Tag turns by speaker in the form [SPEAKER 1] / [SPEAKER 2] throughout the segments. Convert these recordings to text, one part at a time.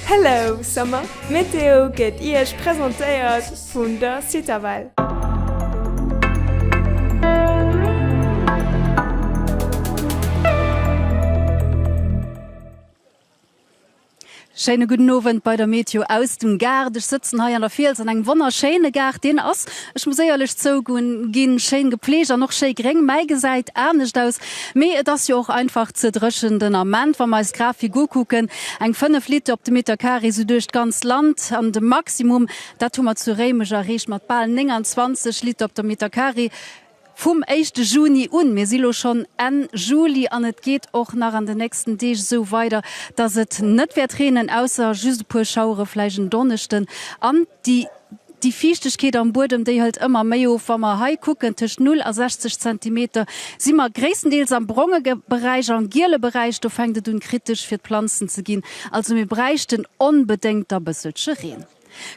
[SPEAKER 1] Hello Summer! D'Meteo gëtt Iech presentéiert vun der Citavelle.
[SPEAKER 2] Schéine gudden Owend bei der Meteo aus dem Gaart. Ech sëtzen hei an der Fiels an engem wonnerschéine Gaart. Deen ass, ech muss éierlech zougun, ginn, schéin gepflegt an och schéi gréng, mäi gesäit anescht aus Mee et ass jo och einfach ze dréchen den Ament. Wa mer eis d'Grafik ukucken, eng 5 Lit op de Meter carré sou duerch d'ganz Land. An de Maximum, dat hu mer zu Réimech erreecht mat bal 29 Lit op de Meter carré vum éischte Juni un. Mir si lo schonn Enn Juli an et geet och nach an de nächsten Deeg esou weider, dass et net wäert reenen, ausser just e puer Schauere vläicht en Donneschden an déi. Déi Fiichtegkeet am Buedem, déi hëlt ëmmer méi of. Wa mer hei kucken, tëscht 0 a 60 Zentimeter si mer gréisstendeels am bronge Beräich. Am giele Beräich, do fänkt et un kritesch fir d'Planzen ze ginn. Also mir bräichten onbedéngt da bësselche Reen.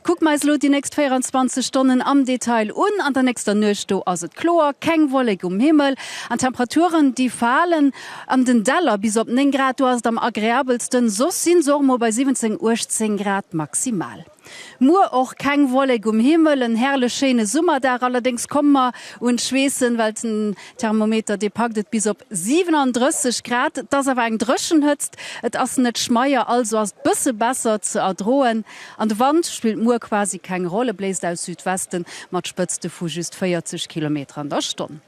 [SPEAKER 2] Kucke mer eis elo déi nächst 24 Stonnen am Detail un. An der nächster Nuecht, do ass et kloer, keng Wollek um Himmel an d'Temperaturen, déi falen an den Däller bis op 9 Grad. Do ass et am agreabelsten. Soss sinn se och mol bei 17, 18 Grad maximal. Muer och keng Wollek um Himmel, en herrlech schéine Summerdag. Allerdéngs komme mer un d'Schweessen, well den Thermometer dee packt et bis op 37 Grad. Et ass awer eng dréchen Hëtzt, et ass net schmeier, also ass et bësse besser ze erdroen an de Wand spillt muer quasi keng Roll, e bléist aus Südwesten mat Spëtzte vu just 40 Kilometer an der Stonn.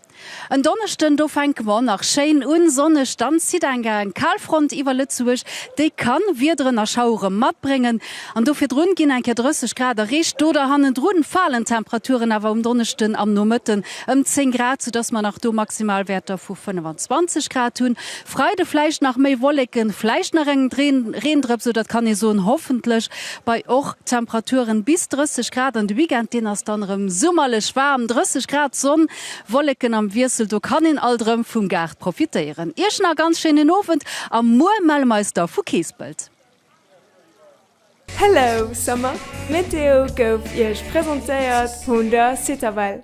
[SPEAKER 2] En Donneschden, do fänke mer nach schéin un, sonneg, dann zitt eng Kalfront iwwer Lëtzebuerg, déi ka Wiederen a Schauere matbréngen an do virdrun ginn eng Kéier 30 Grad erreecht. Do da hannendrun falen d'Temperaturen awer um Donneschden am Nomëtten ëm 10 Grad, soudass mer nach do Maximalwäerter vu 25 Grad hunn. Freide vläicht nach méi Wolleken, vläicht nach en Reendrëps, oder et kann ee soen, hoffentlech, bei och Temperaturen bis 30 Grad. An de Weekend, deen ass dann erëm summerlech waarm, 30 Grad, Sonn, Wolleken am Wiessel, do kann een alt erëm vum Gaart profitéieren. Iech nach ganz schéinen Owend a muer melle mer eis da vu Keespelt.
[SPEAKER 1] Hello Summer! D'Meteo gouf Iech presentéiert vun der Citavelle.